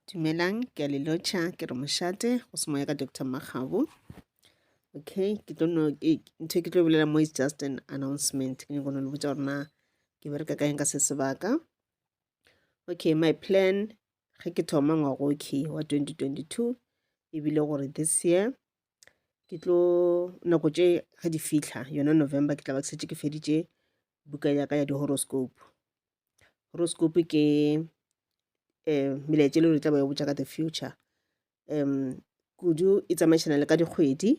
Dumelang, ke a le lotšha ke re mošate go se moya ka Doctor Makgabo. Okay, ke tlo no ntho ke tlo bolela mo is just an announcement. Ke nyako no le botsa gore na ke bereka ka eng ka se sebaka. Okay, my plan ge ke thoma ngwago okay wa 2022 e bile gore this year ke tlo nako tše ga di fitlha yona November ke tla ba ke setse ke feditše buka ya ka ya di-horoscope horoscope ke um melaetša e le gore tla ba botša ka the future um kudu e tsamaišana le ka dikgwedi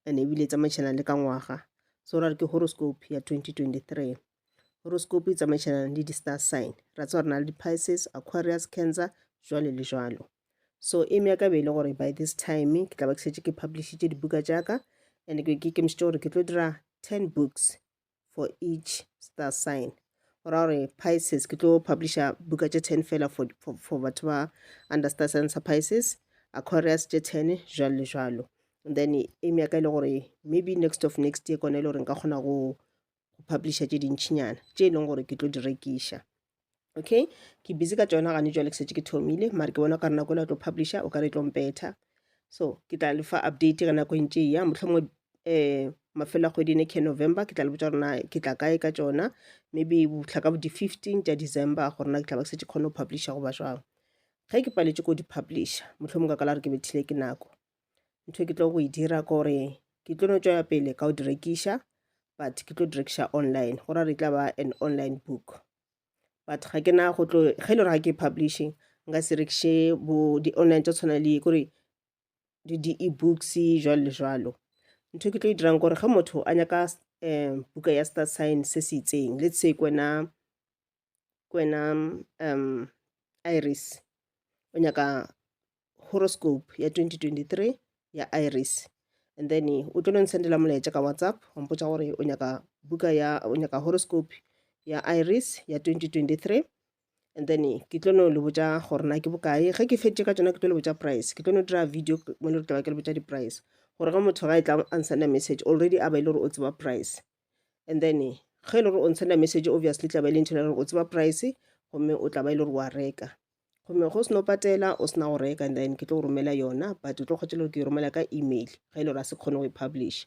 and ebile e tsamaišana le ka ngwaga so ra re ke horoscope ya 2023 horoscope e tsamaišana le di-star sign ra tse gore na le di-pices aquarius cancer jwale le jwalo so e mea ka bele gore by this time ke tla ba ke šetše ke publishitše dibuka tša ka and ke ikemišitše gore ke tlo dira ten books for each star sign go ra gore pisces ke tlo publisha buka tše ten fela for, for, for batho ba under star sign sa pisces aquarius tše ten jalo le jalo and then aim ya ka e le gore maybe next of next year kone e le gore nka kgona go publisha tše dintšhinyana tše e leng gore ke tlo di rekiša okay ke busy ka tsona gane jwale ke setse ke thomile mare ke bona ka re nako le tlo publisha o ka re tlo mpetha so ke tla le fa update ge nako e ntse ya motlhomo um eh, mafelo a kgwedi ne ke november ke tla le botsa gorena ke tla kae ka tsona maybe botlha ka bo di-fifteen tša december gorena ke tla ba ke setse kgone go publisha goba jwang ge ke paletse ko di-publisha motlhomo ka kala re ke bethile ke nako ntho e ke tlo go e dira ke gore ke tlo no tšwela pele ka go di rekiša but ke tlo di rekiša online go ra re tla ba an online book but ga ke na go tlo ge e le gore ga ke publishing nka se rekiše bo di-online tša tshwana le kore le di-ebooks jwalo le jwalo ntho e ke tlo e dirang gore ge motho a nyaka um buka ya star sign se se itseng le se kwena kwena um iris o nyaka horoscope ya 2023 ya iris and then o tlo nsendela molaetša ka whatsapp wa mpotša gore o nyaka buka ya o nyaka horoscope ya iris ya 2023 and then ke tlo no le botša gore na ke bokae ge ke fetše ka tsona ke tlo le botša price ke tlo no dira video mo le re tla ba ke le botša di-price gore ge motho ga e tla a nsenda message already a ba e le gore o tseba price and then ge e le gore o ntshela message obviously tla ba e le ntho e gore o tseba price gomme o tla ba e le gore wa reka gomme go seno patela o sena go reka and then ke tlo go romela yona but o tlo kgotsa gore ke e romela ka email ge e le gore a se kgone go e publish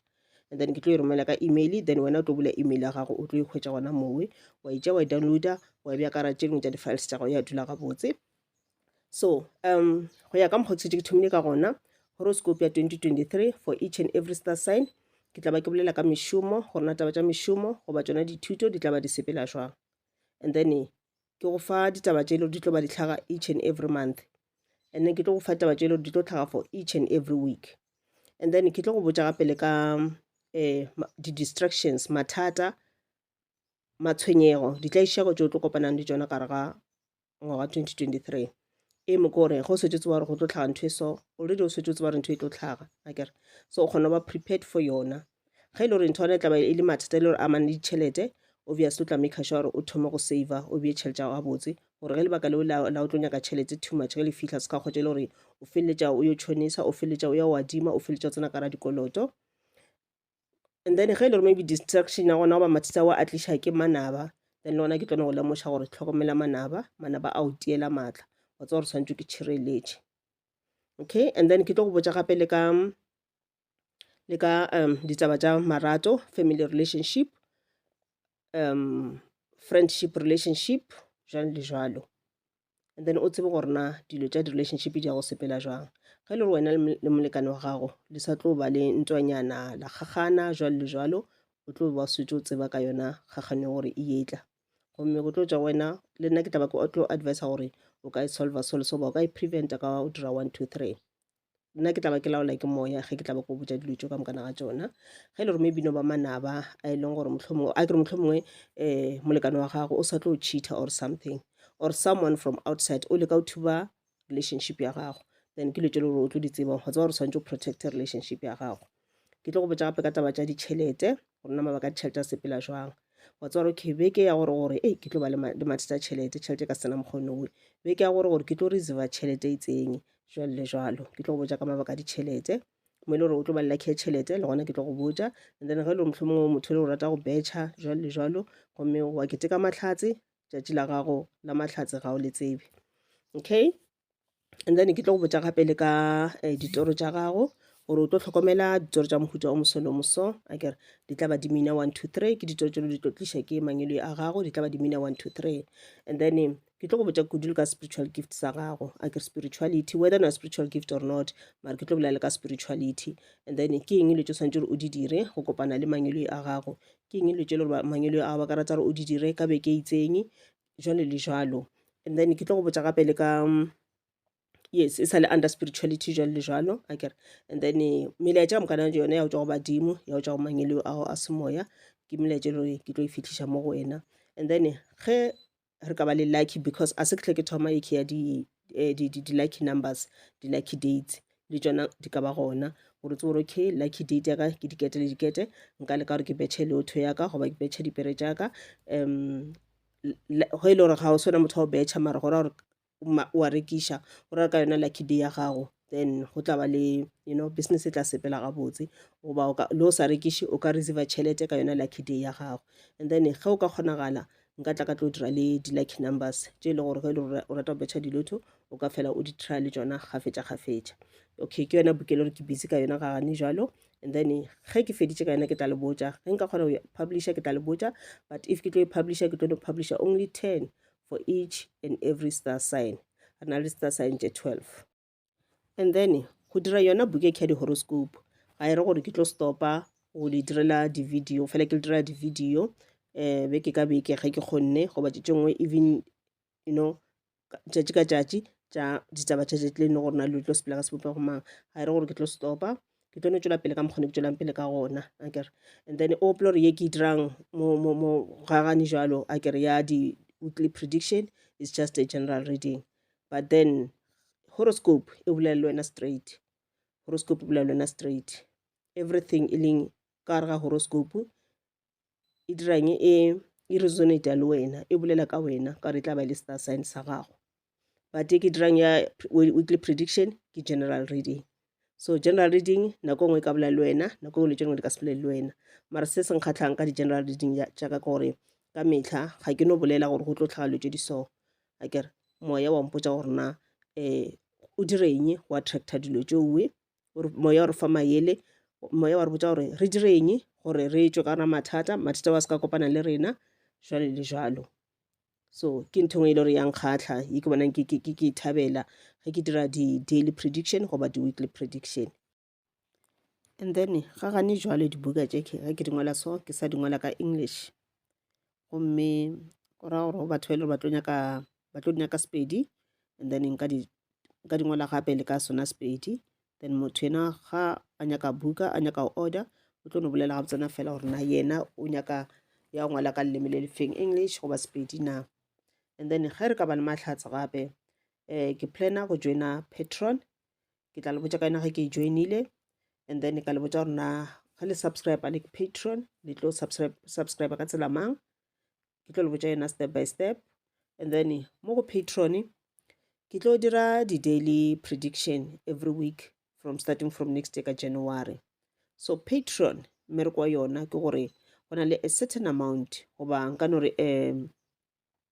and then ke tlo e romela ka email then wena o tlo bula email ya gago o tlo e hwetša gona mowe wa itša wa e downloada wa e bja karatšeng tša di-files tša gago ya dula gabotse So um go ya ka mokgwa ke setse ke thomile ka gona horoscope ya 2023 for each and every star sign ke tla ba ke bolela ka mešomo gore na taba tša mešomo goba tsona dithuto di tla ba di sepela jwang and then ke go fa ditaba tše le di tlo ba di tlhaga each and every month and then ke tlo go fa taba tše le di tlo tlhaga for each and every week and then ke tlo go botša gape le ka eh, di-distractions mathata matshwenyego ditlaišego tšeo tlo kopanang le tšona gare ga ngwaga 2023 e mo kore go setse tsewa gore go tlo tlhaga ntho e so already o setse o tseba gore ntho e tlo tlhaga a kere so o kgona go ba prepared for yona ge e le gore ntho yone e tlaba e le mathata e le gore amane le ditšhelete obviously o tla make sure gore o thoma go save o bee tšhelete ya botse gore ge lebaka leo la o tlo nyaka tšhelete too much ge le fitlha se ka kgotsa e le gore o feleletša o yo tšhonisa o feleletša o ya wadima o feleletša o tsena kara dikoloto and then ge e le gore maybe distraction ya gona goba mathisa wa a tliša ke manaba then le gona ke tlone go lemoša gore tlhokomela manaba manaba a o tiela maatla wa tsa gore tshwanetse ke tšhireletše okay and then ke tlo go botsa gape le ka le ka um ditaba tša marato family relationship um friendship relationship jalo le jalo and then o tsebe gore na dilo tša di-relationship di ya go sepela jwang ge le gore wena le molekane wa gago le sa tlo ba le ntwanyana la kgagana jwalo le jwalo o tlo ba swetse o tseba ka yona kgagano ya gore e etla gomme go tlo tša wena le nna ke tla ba ke tlo advisa gore o ka e solver selo soba o ka e preventa ka o dira one two three nna ke tla ba ke laola ke moya ge ke tla ba ko botša dilo tso ka mokana ga tsona ge e le gore maybe no ba manaba a e leng gore mohlomongwe a kere mohlomongwe um molekano wa gago o sa tlo cheater or something or someone from outside o leka o thuba relationship ya gago then ke letselo gore o tlo di tsebang go tseba gore swanetse o protect relationship ya gago Ke tlo go botša gape ka taba tša ditšhelete gore na mabaka a ditšhelete a sepela jwang wa tseba gore okay beke ya gore gore ee ke tlo ba le mathata a tšhelete tšhelete ka sena mokgone oe beke ya gore gore ke tlo reserva tšhelete e itseng jwalo le jwalo ke tlo go botša ka mabaka a ditšhelete mo e le gore o tlo ba lelakhe tšhelete le gona ke tlo go botša and then ge e le motlho mongwe motho e le o rata go betšha jwalo le jwalo gomme wa keteka matlhatse tšatši la gago la matlhatse ga o le tsebe okay and then ke tlo go botša gape le ka eh, ditoro tša gago gore o tlo tlhokomela ditoro tša mohuta o moso le moso a kere di tla ba di mina one two three ke ditoro tšelo di tlo tliša ke mangelo a gago di tla ba di mina one two three and then eh, ke tlo go botša kudu le ka spiritual gift sa gago a kere spirituality whether na spiritual gift or not mara ke tlo bolela le ka spirituality and then ke eng dilo tse o swanetse gore o di dire go kopana le mangelo a gago ke eng dilo tse e le gore ba- mangelo a gago ba ka rata gore o di dire ka beke e itseng jwalo le jwalo and then ke tlo go botša gape le ka yes e sa le under spirituality jwalo le jwalo a kere and then eh, melaetša ka mokana yone ya go tswa go badimo ya go tswa go mangelo ao a semoya ke melaetša e le gore ke tlo e fitlhiša mo go wena and then ge re ka ba le lucky because a se ke tle ke thoma e ke ya di eh, di, di, di lucky numbers di lucky dates le tšona di ka ba gona gore tse gore okay lucky date yaka ke dikete le dikete nka leka gore ke betšhe leotho yaka goba ke betšhe dipere tšaka um go e le gore ga o swana motho wa go betšha mara gore gore wa rekiša o rera ka yona lucky day ya gago then go tla ba le you know business e tla sepela gabotse goba le o sa rekiše o ka receive tšhelete ka yona lucky day ya gago and then ge o ka kgonagala nka tla ka tlo dira le di-lucky numbers tše e le gore ge le o rata go betšha dilotho o ka fela o di try le tsona gafetša gafetša okay ke yona bukele gore ke busy ka yona ga gane jalo and then ge ke feditše ka yona ke tla le botša ge nka kgona go publisha ke tla le botša but if ke tlo e publisha ke tlo no publisha only ten for each and every star sign re na le star sign tše 12 and then go dira yona book e khadi horoscope ga e re gore ke tlo stopa go le direla di-video fela ke le direla di-video um be ke ka beke ge ke kgonne goba tše tše nngwe even you know tšatši ka tšatši tša ditaba tša tšatši le ne gore na le tlo sepela ka sebopego mang ga e re gore ke tlo stopa ke tlo no tšwela pele ka mokgwa ne ke tšwelang pele ka gona a kere and then o opela gore ye ke dirang mo mo mo gagane jalo a kere ya di weekly prediction is just a general reading but then horoscope e bolela le wena straight horoscope e bolela le wena straight everything e leng ka gare ga horoscope e dirang e e resonata le wena e bolela ka wena ka gore e tla ba le star sign sa gago but e ke dirang ya weekly prediction ke general reading so general reading nako nngwe e ka bolela le wena nako nngwe letšo nngwe le ka se bolele le wena mara se se nkgatlhang ka di-general reading tša ka gore ka metlha ga ke no bolela gore go tlo tlhaga letšo di so a kere moya wa mpotsa gore na um o direng wa attracta dilo tšoe moya o re fa mayele moya wa re botsa gore re dire eng gore re tswe ka ra mathata mathata wa se ka kopana le rena jwale le jwalo so ke ntho engwe e le gore yang kgatlha e ke bonang ke e thabela ge ke dira di-daily prediction goba di-weekly prediction and then ga gane jwale dibuka tše ga ke di ngwala so ke sa di ngwala ka english gomme go ra gore go batho ba e le gore ba tlo nyaka ba tlo di nyaka sepedi and then nka di nka di ngwala gape le ka sona sepedi then motho ena ga a nyaka buka a nyaka go order o tlo no bolela gabotsana fela gore na yena o nyaka ya go ngwala ka leleme le lefeng english goba sepedi na and then ge re ka ba le mahlatse gape um ke planner go joina patron ke tla le botša ka yena ge ke e joinile and then ka le botša gore na ge le subscribe le patron le tlo subscribe subscribe ka tsela mang ke tlo le botša yena step by step and then mo go patron ke tlo dira di-daily prediction every week from starting from next year ka january so patron mmereko wa yona ke gore go na le a certain amount goba nka no re um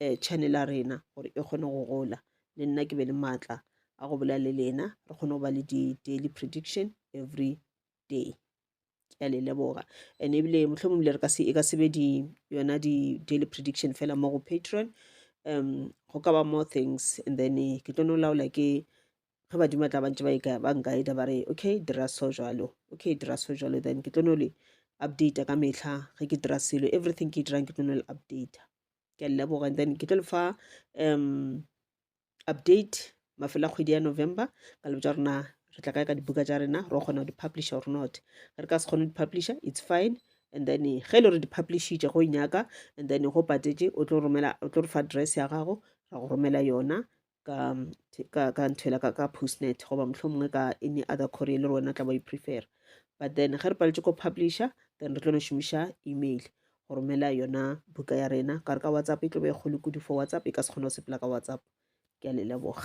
um channel ya rena gore e kgone go gola le nna ke be le maatla a go bolela le lena re kgone go ba le di-daily prediction every day ke a le leboga and ebile mohlomong le re ka se e ka sebe di yona di-daily prediction fela mo go patron um go ka ba more things and then eh, ke tlo no laola ke ge badimo tla bantse ba e ba nkaeda ba re okay dira so jalo okay dira so jalo then ke tlo no le updata ka metlha ge ke dira selo everything ke e dirang ke tlo no le updata ke a le leboga and then ke tlo le fa um update mafelo a kgwedi ya november ka lebo tsa rona re tla kae ka dibuka tsa rena re kgona go di-publisher or not ge re ka se kgone di-publisher it's fine and then ge e le gore di-publishitše go nyaka and then go patetse o tlo romela o tlo re fa address ya gago ra go romela yona ka ka ka nthwela ka ka postnet goba mohlomongwe ka any other courier le rona tla ba i-prefer but then ge re paletše ko publisher then re tlo no šomiša email go romela yona buka ya rena ka re ka whatsapp e tlo be e kgolo kudu for whatsapp e ka se kgona go sepela ka whatsapp ke a le leboga